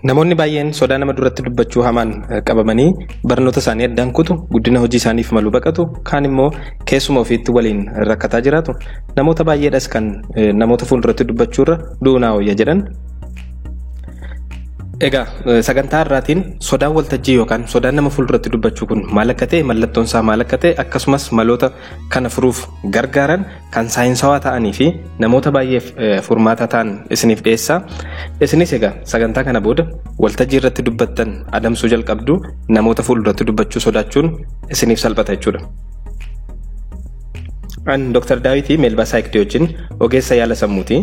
Namoonni baay'een sodaa nama duratti dubbachuu hamaan eh, qabamanii barnoota isaanii addaan kutu guddina hojii isaaniif malu baqatu kaan immoo keessuma ofiitti waliin rakkataa jiraatu namoota baay'eedhas kan eh, namoota fuulduratti dubbachuurra du'uu naa wayya jedhan Egaa eh, sagantaa irraatiin sodaan waltajjii yookaan sodaan nama fuulduratti dubbachuu kun maal akka ta'e mallattoon isaa maal akka ta'e akkasumas maloota kana furuuf gargaaran kan saayinsawaa ta'anii fi namoota baay'eef furmaata ta'an isiniif dhiyeessa. Isinis egaa sagantaa kana booda waltajjii irratti dubbattan adamsuu jalqabdu namoota fuulduratti dubbachuu sodaachuun isiniif salphata jechuudha. An Dr. Daawitii Meelbaa Saayikdii wajjin ogeessa yaala sammuuti.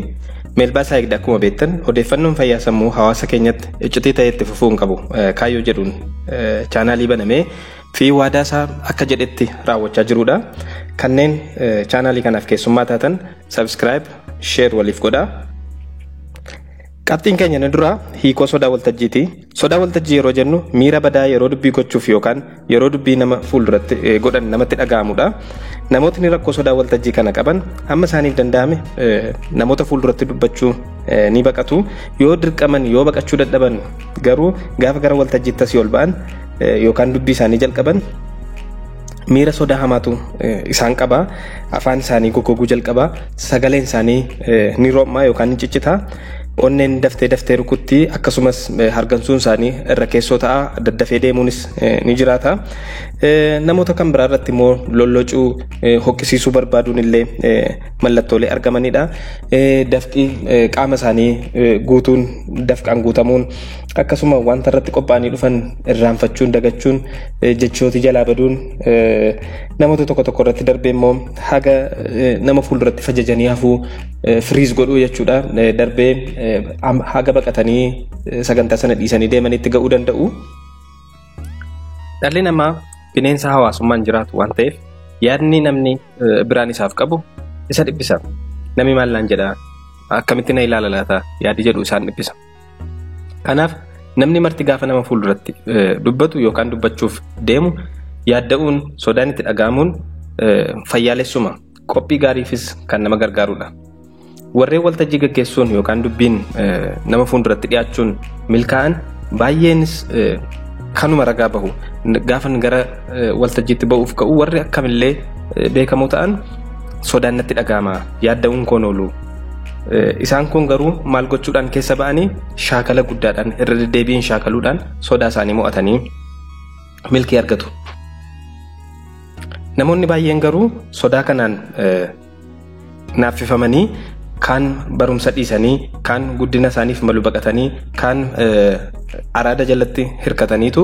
Meelbaa Saayikdii akkuma beektan odeeffannoon fayyaa sammuu hawaasa keenyatti iccitii ta'ee itti fufuu hin qabu kaayyoo jedhuun chaanaalii banamee fi waadaa isaa akka jedhetti raawwachaa jiruudha. Kanneen chaanaalii kanaaf keessummaa taatan subscribe, share waliif godhaa. Qabxiin keenya inni duraa hiikoo sodaa waltajjiiti. Sodaa waltajjii yeroo jennu miira badaa yeroo dubbii gochuuf yookaan yeroo dubbii nama fuulduratti eh, godhan namatti dhaga'amudha. Namootni rakkoo sodaa waltajjii kana qaban amma isaaniif danda'ame eh, namoota fuulduratti dubbachuu eh, ni baqatu. Yoo dirqaman yoo baqachuu dadhaban garuu gaafa gara waltajjiitti asii ol ba'an yookaan dubbii isaanii jalqaban miira sodaa hamaatu isaan qaba. Afaan isaanii goggoguu jalqaba. Sagaleen isaanii ni ro'ma yookaan ni ciccita. Onneen daftee daftee rukutti akkasumas hargansuun isaanii irra keessoo ta'a. Daddafee deemuunis ni jiraata. Namoota kan biraa irratti immoo lollocuu hoqqisiisuu barbaaduun illee mallattoolee argamanidha. Dafqi qaama isaanii guutuun dafqaan guutamuun akkasuma wanta irratti qophaa'anii dhufan irraanfachuun dagachuun jechooti jalaa baduun namoota tokko tokko irratti darbee immoo haga nama fuulduratti fajajanii hafuu firiis godhuu jechuudha darbee haga baqatanii sagantaa sana dhiisanii deemanitti ga'uu danda'u. Dhalli namaa bineensa hawaasummaan jiraatu waan ta'eef yaadni namni biraan isaaf qabu isa dhiphisa. Namni maal naan jedhaa akkamitti na ilaala laata yaadi jedhu isaan dhiphisa. Kanaaf namni marti gaafa nama fuulduratti dubbatu yookaan dubbachuuf deemu yaadda'uun sodaan itti dhaga'amuun fayyaalessuma qophii gaariifis kan nama gargaarudha. Warreen waltajjii gaggeessuun yookaan dubbiin nama fuulduratti dhiyaachuun milkaa'an baay'eenis kanuma ragaa bahu. Gaafan gara waltajjiitti ba'uuf ka'u warri akkamillee beekamoo ta'an sodaan natti dhaga'ama yaadda'uun koon oolu. Isaan kun garuu maal gochuudhaan keessa ba'anii shaakala guddaadhaan irra deddeebiin shaakaluudhaan sodaa isaanii mo'atanii milkii argatu. Namoonni baay'een garuu sodaa kanaan naaffifamanii kaan barumsa dhiisanii kaan guddina isaaniif malu baqatanii kaan araada jalatti hirkataniitu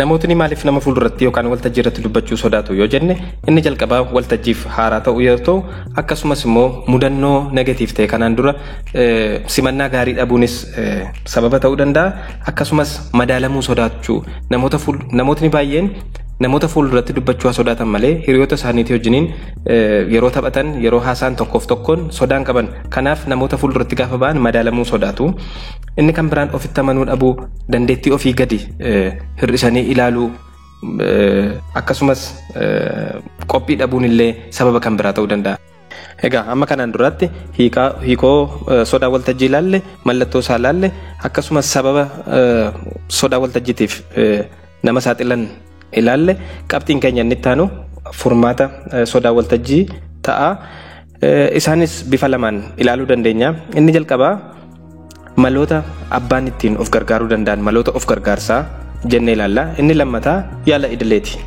Namootni maaliif nama fuulduratti yookaan waltajjii irratti dubbachuu sodaatu yoo jenne inni jalqabaa waltajjiif haaraa ta'uu yoo ta'u akkasumas immoo mudannoo negatiif ta'e kanaan dura simannaa gaarii dhabuunis sababa ta'uu danda'a akkasumas madaalamuu sodaachuu namootni baay'een namoota fuulduratti dubbachuu sodaatan malee hiriyoota isaaniitii wajjiniin yeroo taphatan yeroo haasaan tokkoof tokkoon sodaan qaban kanaaf namoota fuulduratti gaafa ba'an madaalamuu sodaatu Inni kan biraan ofitti amanuu dhabuu, dandeettii ofii gadi hir'isanii ilaaluu akkasumas qophii dhabuun illee sababa kan biraa ta'uu danda'a. Egaa amma kanaan duraatti hiikoo sodaa waltajjii ilaalle, mallattoo isaa ilaalle akkasumas sababa sodaa waltajjiitiif nama saaxilan ilaalle qabxiin keenya inni itti aanu furmaata sodaa waltajjii ta'a. Isaanis bifa lamaan ilaaluu dandeenya. Inni jalqabaa maloota abbaan ittiin of gargaaruu danda'an maloota of gargaarsaa jennee ilaalla. Inni lammataa yaala idileeti.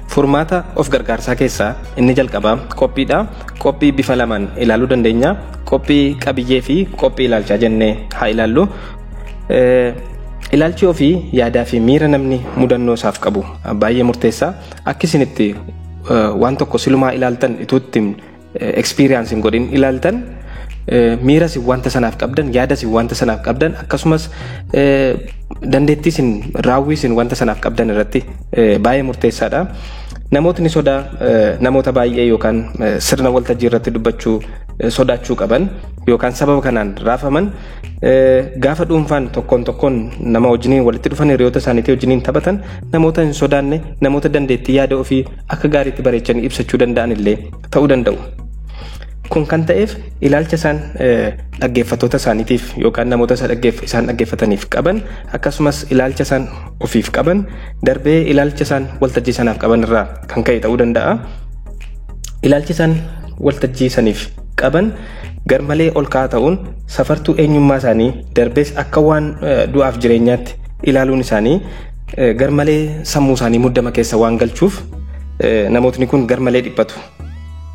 Furmaata of gargaarsaa keessaa inni jalqabaa qophiidha. Qophii bifa lamaan ilaaluu dandeenya. Qophii qabiyyee fi qophii ilaalchaa jennee haa ilaallu. Ilaalchi ofii yaadaa fi miira namni mudannoo isaaf qabu baay'ee murteessaa. Akka isin itti waan tokko silumaa ilaaltan ituutti experience hin godhin ilaaltan miira isin wanta sanaaf qabdan yaada isin wanta sanaaf qabdan akkasumas dandeettii isin raawwii isin wanta sanaaf qabdan irratti baay'ee murteessaadha. Namootni sodaa namoota baay'ee yookaan sirna waltajjii irratti dubbachuu sodaachuu qaban yookaan sababa kanaan raafaman Gaafa dhuunfaan tokkoon tokkoon nama wajjiniin walitti dhufan hiriyoota isaaniitii wajjiniin taphatan namoota hin sodaanne namoota dandeettii yaada ofii akka gaariitti bareechanii ibsachuu danda'an illee ta'uu danda'u. Kun kan ta'eef ilaalcha isaan dhaggeeffattoota isaaniitiif yookaan namoota isaan dhaggeeffataniif qaban akkasumas ilaalcha isaan ofiif qaban darbee ilaalcha isaan waltajjii sanaaf qaban irraa kan ka'e ta'uu danda'a. Ilaalchi isaan waltajjii saniif qaban garmalee ol ka'aa ta'uun safartuu eenyummaa isaanii darbees akka waan du'aaf jireenyaatti ilaaluun isaanii garmalee sammuu isaanii muddama keessa waan galchuuf namootni kun garmalee dhiphatu.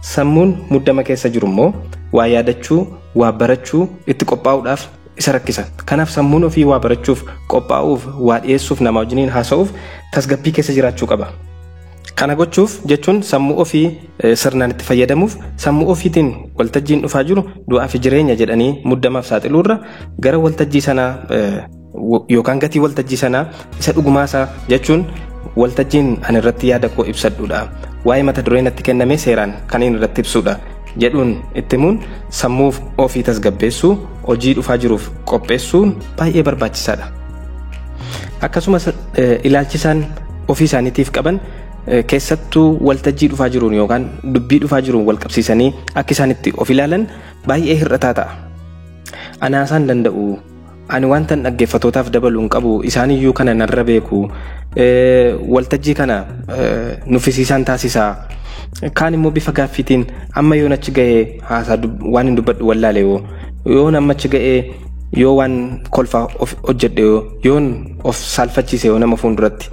Sammuun muddama keessa jiru immoo waa yaadachuu, waa barachuu itti qophaa'uudhaaf isa rakkisa. Kanaaf sammuun ofii waa barachuuf, qophaa'uuf, waa dhiyeessuuf, namaa wajjiniin haasa'uuf tasgabbii keessa jiraachuu qaba. Kana gochuuf jechuun sammuu ofii sirnaan itti fayyadamuuf sammuu ofiitiin waltajjiin dhufaa jiru du'aa fi jireenya jedhanii muddamaaf saaxiluurra gara waltajjii sanaa yookaan gatii waltajjii sanaa isa dhugumaasaa jechuun waltajjiin ani irratti yaada koo ibsadhuudha. Waa'ee mata duree natti kenname seeraan kan inni irratti ibsuudha jedhuun itti himuun sammuu ofii tasgabbeessuu hojii dhufaa jiruuf qopheessuun baay'ee barbaachisaadha. Akkasumas ilaalchisaan ofii isaaniitiif qaban keessattuu waltajjii dhufaa jiruun yookaan dubbii dhufaa jiruun wal qabsiisanii akka isaanitti of ilaalan baay'ee hir'ataa ta'a. Anaasaan danda'u ani wanta dhaggeeffatootaaf dabaluun qabu isaaniyyuu kana narra beeku waltajjii kana nuffisiisaan taasisaa kaan immoo bifa gaaffiitiin amma yoon achi ga'ee haasaa dub- waan hin dubbadhu wallaale yoo yoon amma achi ga'ee yoo waan kolfaa of hojjedhe yoo yoon of saalfachiise yoo nama fuulduratti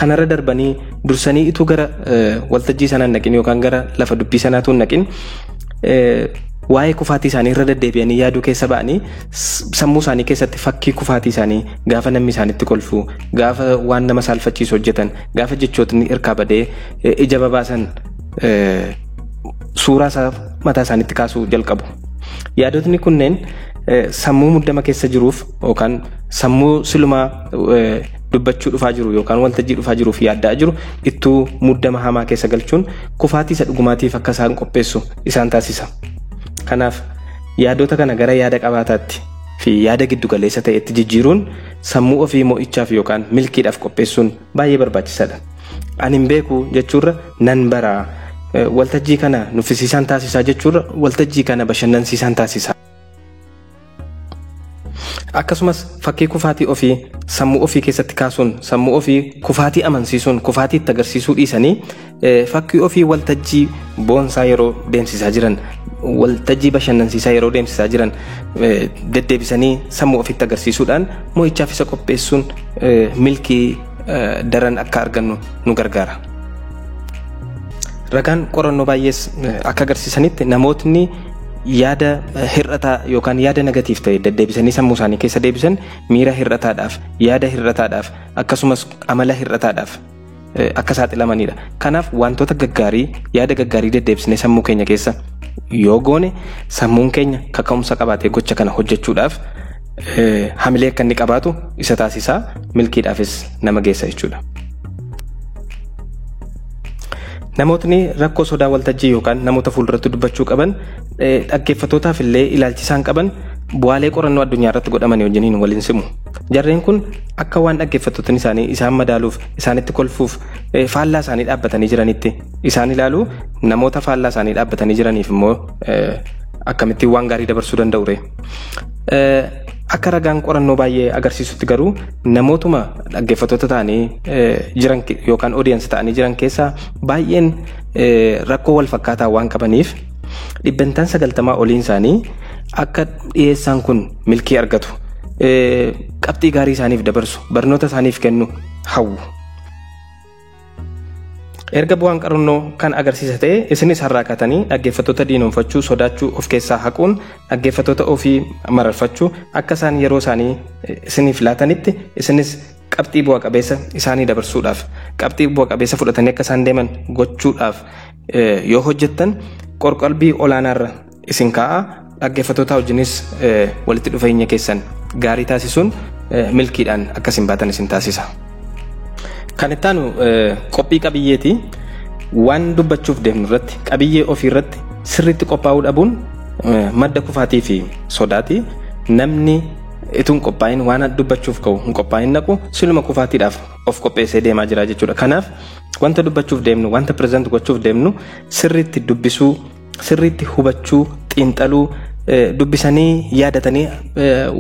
kanarra darbanii dursanii ituu gara eh, waltajjii sanaa hin naqin yookaan gara lafa dubbii sanaatuu hin naqin eh, waa'ee kufaatii isaanii irra deddeebi'anii yaaduu keessa ba'anii s- sammuu isaanii keessatti fakkii kufaatii isaanii gaafa namni isaanitti kolfu gaafa waan nama saalfachiisu hojjetan gaafa jechootni irkaa badee eh, ija babaasan eh, suuraa isaa mataa isaaniitti kaasuu jalqabu. Yaadotni kunneen sammuu muddama keessa jiruuf yookaan sammuu silumaa dubbachuu dhufaa jiru yookaan waltajjii dhufaa jiruuf yaaddaa jiru ittuu muddama hamaa keessa galchuun kufaatii isa dhugumaatiif akka isaan qopheessu isaan taasisa. Kanaaf yaadota kana gara yaada qabaataatti fi yaada giddugaleessa ta'etti jijjiiruun sammuu ofii mo'ichaaf yookaan milkiidhaaf qopheessuun baay'ee barbaachisaadha. Ani hin beeku jechuurra nan bara waltajjii kana nuffisiisaan taasisaa jechuurra waltajjii kana bashannansiisaan taasisaa. Akkasumas fakkii kufaatii ofii sammuu ofii keessatti kaasuun sammuu ofii kufaatii amansiisuun kufaatii itti agarsiisuu dhiisanii Fakkii ofii waltajjii boonsaa yeroo deemsisaa jiran waltajjii bashannansiisaa yeroo deemsisaa jiran deddeebisanii sammuu ofitti agarsiisuudhaan mo'ichaaf isa qopheessuun milkii daran akka argannu nu gargaara. Ragaan qorannoo baay'ees akka agarsiisanitti namootni yaada hir'ataa yookaan yaada negatiif ta'e deddeebisanii sammuu isaanii keessa deebisan miira hir'ataadhaaf yaada hir'ataadhaaf akkasumas amala hir'ataadhaaf akka saaxilamanidha. Kanaaf wantoota gaggaarii yaada gaggaarii deddeebisnee sammuu keenya keessa yoo goone sammuun keenya kaka'umsa qabaatee gocha kana hojjechuudhaaf hamilee akka inni qabaatu isa taasisaa milkiidhaafis nama geessa jechuudha. Namootni rakkoo sodaa waltajjii yookaan namoota fuulduratti dubbachuu qaban dhaggeeffattootaaf illee ilaalchisaan qaban bu'aalee qorannoo addunyaa irratti godhamanii wajjiniin waliin simu. Jarreen kun akka waan dhaggeeffattootni isaanii isaan madaaluuf isaanitti kolfuuf faallaa isaanii dhaabbatanii jiranitti isaan ilaalu namoota faallaa isaanii dhaabbatanii jiraniif immoo akkamittiin waan gaarii dabarsuu danda'u ree. Akka ragaan qorannoo baay'ee agarsiisutti garuu namootuma dhaggeeffattoota ta'anii jiran yookaan odiyansi ta'anii jiran keessaa baay'een rakkoo wal fakkaataa waan qabaniif dhibbentaan 90 oliin isaanii akka dhiyeessaan kun milkii argatu qabxii gaarii isaaniif dabarsu barnoota isaaniif kennu hawwu. Erga bu'aan qarannoo kan agarsiisa ta'e isinis har'aa kaatanii dhaggeeffattoota diinoomfachuu sodaachuu of keessaa haquun dhaggeeffattoota ofii mararfachuu akka isaan yeroo isaanii isiniif laatanitti isinis qabxii bu'a qabeessa isaanii dabarsuudhaaf qabxii bu'a qabeessa fudhatanii akka isaan deeman gochuudhaaf eh, yoo hojjettan qorqalbii olaanaarra isin kaa'a dhaggeeffatootaa wajjinis eh, walitti dhufeenya keessan gaarii taasisuun eh, milkiidhaan akka isin baatan isin taasisa. Kan itti aanu eh, qophii qabiyyeeti. Waan dubbachuuf deemnu irratti qabiyyee ofii irratti sirriitti qophaa'uu dhabuun eh, madda kufaatii fi sodaati. Namni Itun qophaa'in waan dubbachuuf ka'u hin qophaa'in naqu siluma kufaatiidhaaf of qopheessee deemaa jira jechuudha. Kanaaf wanta dubbachuuf deemnu wanta pireezent gochuuf deemnu sirriitti dubbisuu sirriitti hubachuu xiinxaluu dubbisanii yaadatanii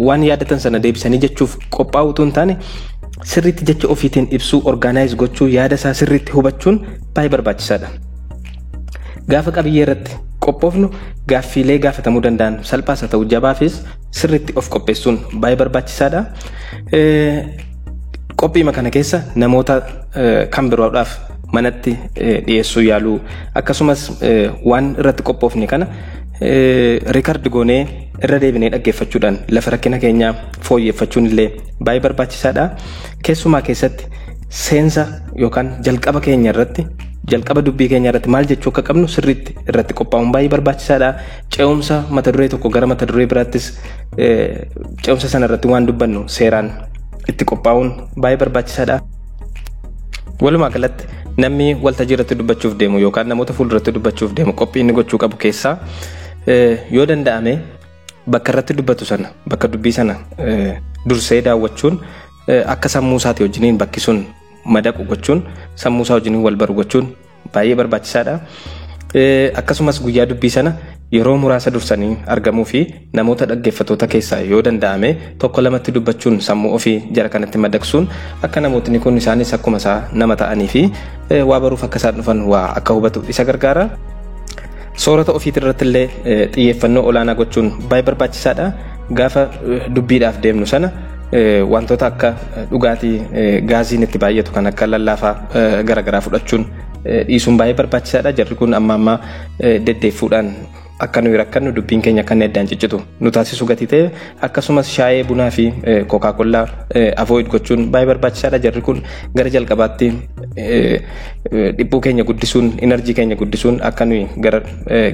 waan yaadatan sana deebisanii jechuuf qophaa'uu utuu hin taane sirriitti jecha ofiitiin ibsuu orgaanaayiz gochuu yaada isaa sirriitti hubachuun baay'ee barbaachisaadha. Gaafa qabiyyee irratti qophoofnu gaaffiilee gaafatamuu danda'an salphaas haa ta'u jabaafis sirriitti of qopheessuun baay'ee barbaachisaadha. Qophiima kana keessa namoota kan biroodhaaf manatti dhiyeessuu yaaluu akkasumas waan irratti qophoofne kana riikardi goonee irra deebinee dhaggeeffachuudhaan lafa rakkina keenyaa fooyyeffachuun illee baay'ee barbaachisaadha. Keessumaa keessatti seensa yookaan jalqaba keenya irratti jalqaba dubbii keenya irratti maal jechuu akka qabnu sirriitti irratti qophaa'uun baay'ee barbaachisaadha. Ce'umsa mata duree tokko gara mata duree biraattis ce'umsa sana irratti waan dubbannu seeraan itti qophaa'uun baay'ee barbaachisaadha. Walumaa galatti namni waltajjii irratti dubbachuuf deemu yookaan namoota fuulduratti dubbachuuf deemu qophii inni gochuu qabu keessaa yoo danda'ame bakka irratti dubbatu sana bakka dubbii sana dursee daawwachuun akka sammuu isaati wajjiniin bakki sun madaqu gochuun sammuu isaa wajjiniin wal baru gochuun baay'ee barbaachisaadha. Akkasumas guyyaa dubbii sana yeroo muraasa dursanii argamuu fi namoota dhaggeeffatoota keessaa yoo danda'ame tokko lamatti dubbachuun sammuu ofii jara kanatti madaqsuun akka namootni kun isaanis akkuma isaa nama ta'anii fi waa baruuf akka isaan dhufan waa akka hubatu isa gargaara. Soorata ofiitirratti illee xiyyeeffannoo olaanaa gochuun baay'ee barbaachisaadha. Gaafa dubbiidhaaf deemnu sana wantoota akka dhugaatii gaaziin itti baay'atu kan akka lallaafaa garaagaraa fudhachuun dhiisuun baay'ee barbaachisaadha. Jarri kun amma ammaa deddeeffuudhaan akka nuyi rakkannu dubbiin keenya akka inni addaan ciccitu nu taasisu gatii ta'e akkasumas shaayee bunaa fi kookaa kollaa avoid gochuun baay'ee barbaachisaadha. Jarri kun gara jalqabaatti dhiphuu keenya guddisuun inarjii keenya guddisuun akka nuyi gara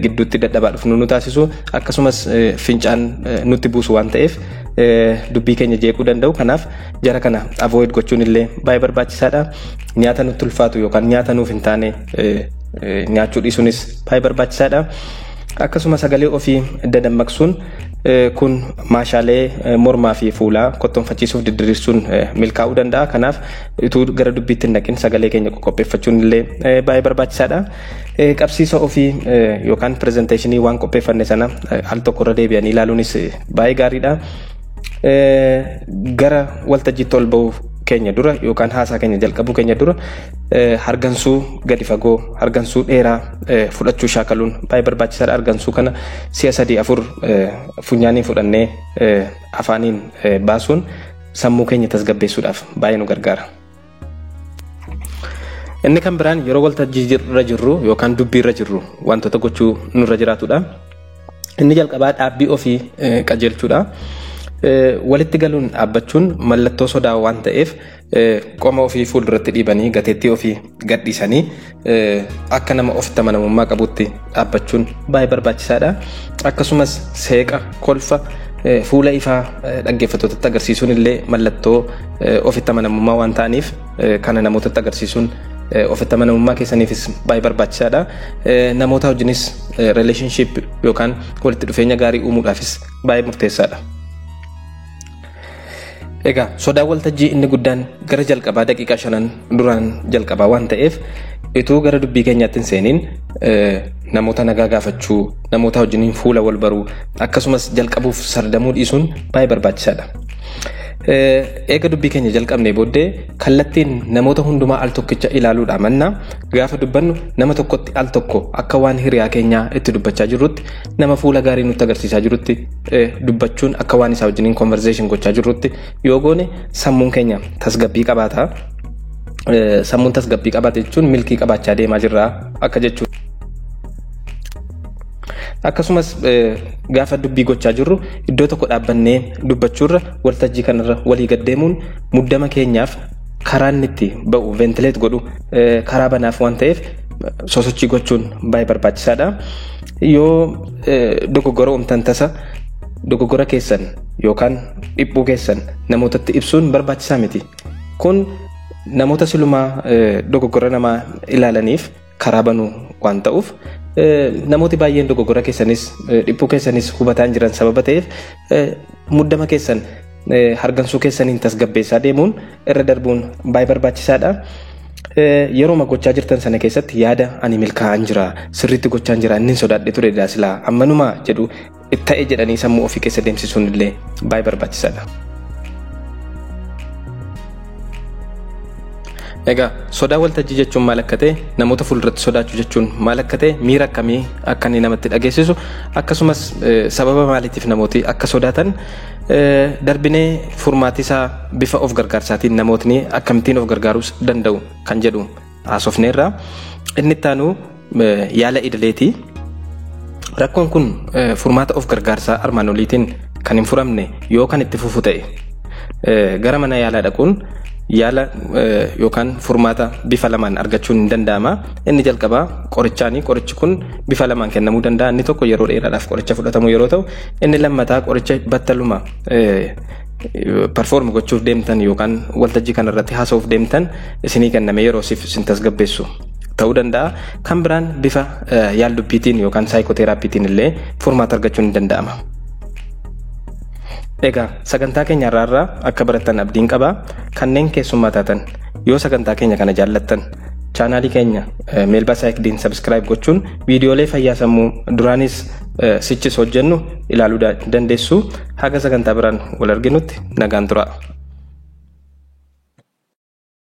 gidduutti dadhabaa dhufnu nu taasisu akkasumas fincaan nutti buusu waan ta'eef dubbii keenya jeequu danda'u kanaaf jara kana avoid gochuun illee baay'ee barbaachisaadha nyaata nutti ulfaatu yookaan nyaata nuuf hin taane nyaachuu dhiisuunis baay'ee barbaachisaadha. Akkasuma sagalee ofii dadammaqsuun kun maashaalee mormaa fi fuulaa kottoonfachiisuuf didiriirsuun milkaa'uu danda'a. Kanaaf utuu gara dubbiitti hin dhaqin sagalee keenya qoqqopheeffachuun illee baay'ee barbaachisaadha. Qabsiisa ofii yookaan pirezenteeshinii waan qopheeffanne sana al tokko irra deebi'anii ilaaluunis baay'ee gaariidha. Gara waltajjiitti ol ba'uu keenya dura yookaan haasaa keenya jalqabuu keenya dura hargansuu gadi fagoo hargansuu dheeraa fudhachuu shaakaluun baay'ee barbaachisaadha. Hargansuu kana si'a sadii afur funyaaniin fudhannee afaaniin baasuun sammuu keenya tasgabbeessuudhaaf baay'ee nu gargaara. Inni kan biraan yeroo waltajjii irra jirru yookaan dubbii irra jirru wantoota gochuu nurra jiraatudha. Inni jalqabaa dhaabbii ofii qajeelchuudha. Walitti galuun dhaabbachuun mallattoo sodaa waan ta'eef qoma ofii fuulduratti dhiibanii gateettii ofii gadhiisanii akka nama ofitti amanamummaa qabutti dhaabbachuun baay'ee barbaachisaadha. Akkasumas seeqa, kolfa, fuula ifaa dhaggeeffattootatti agarsiisuun illee mallattoo ofitti amanamummaa waan ta'aniif kana namootatti agarsiisuun ofitti amanamummaa keessaniifis baay'ee barbaachisaadha. Namoota wajjinis relationship yookaan walitti dhufeenya gaarii uumuudhaafis baay'ee murteessaadha. Egaa sodaan waltajjii inni guddaan gara jalqabaa daqiiqaa shanan duraan jalqabaa waan ta'eef ituu gara dubbii keenyaatti hin seeniin namoota nagaa gaafachuu namoota wajjiniin fuula wal baruu akkasumas jalqabuuf sardamuu dhiisuun baay'ee barbaachisaadha. Eega dubbii keenya jalqabnee booddee kallattiin namoota hundumaa al tokkicha ilaaluudhaa mannaa gaafa dubbannu nama tokkotti al tokko akka waan hiriyaa keenyaa itti dubbachaa jirrutti nama fuula gaarii nutti agarsiisaa jirutti dubbachuun akka waan isaa wajjiniin conversation gochaa jirrutti yoo goone sammuun keenya tasgabbii qabaata. Sammuun tasgabbii qabaate jechuun milkii qabaachaa deemaa jirra akka jechuudha. Akkasumas gaafa dubbii gochaa jirru iddoo tokko dhaabbannee dubbachuurra waltajjii kanarra walii gaddeemuun muddama keenyaaf karaa inni itti ba'u ventileet godhu karaa banaaf waan ta'eef sosochii gochuun baay'ee barbaachisaadha. Yoo dogoggora uumtan tasa dogoggora keessan yookaan dhiphuu keessan namootatti ibsuun barbaachisaa miti. Kun namoota silumaa dogoggora namaa ilaalaniif karaa banuu waan ta'uuf namooti baay'een dogoggora keessanis dhiphuu keessanis hubataan jiran sababa ta'eef muddama keessan hargansuu keessaniin tasgabbeessaa deemuun irra darbuun baay'ee barbaachisaadha. Yeroo gochaa jirtan sana keessatti yaada ani milkaa'aan jira sirriitti gochaan jira inni sodaadhe ture daasilaa ammanumaa jedhu ta'e jedhanii sammuu ofii keessa deemsisuun illee baay'ee barbaachisaadha. Egaa sodaa waltajjii jechuun maal akka ta'e namoota fuulduratti sodaachuu jechuun maal akka ta'e miira akkamii akka inni namatti dhageessisu akkasumas sababa maaliitiif namooti akka sodaatan Darbinee furmaatisaa bifa of gargaarsaatiin namootni akkamittiin of gargaaruus danda'u kan jedhu haasofneerra. Inni itti aanu yaala idileeti. Rakkoon kun furmaata of gargaarsaa armaan oliitiin kan hin furamne yoo kan itti fufu ta'e gara mana yaalaa dhaquun yaala yookaan furmaata bifa lamaan argachuun hin danda'ama. Inni jalqabaa qorichaani. Qorichi kun bifa lamaan kennamuu danda'a. Inni tokko yeroo dheeraadhaaf qoricha fudhatamu yeroo ta'u Inni lammataa qoricha battaluma perform gochuuf deemtan yookaan waltajjii kanarratti haasa'uuf deemtan isinii kenname yeroo siif isin tasgabbeessu ta'uu danda'a. Kan biraan bifa yaaldubbiitiin yookaan saayikooteeraappiitiin illee furmaata argachuun ni danda'ama. Egaa sagantaa keenya irraa akka barattan abdiin qaba. Kanneen keessummaa taatan yoo sagantaa keenya kana jaallattan chaanaalii keenya meelbaa saayikdiin sabiskiraayib gochuun viidiyoolee fayyaa sammuu duraanis sichis hojjennu ilaaluu dandeessu. Haga sagantaa biraan wal arginutti nagaan turaa.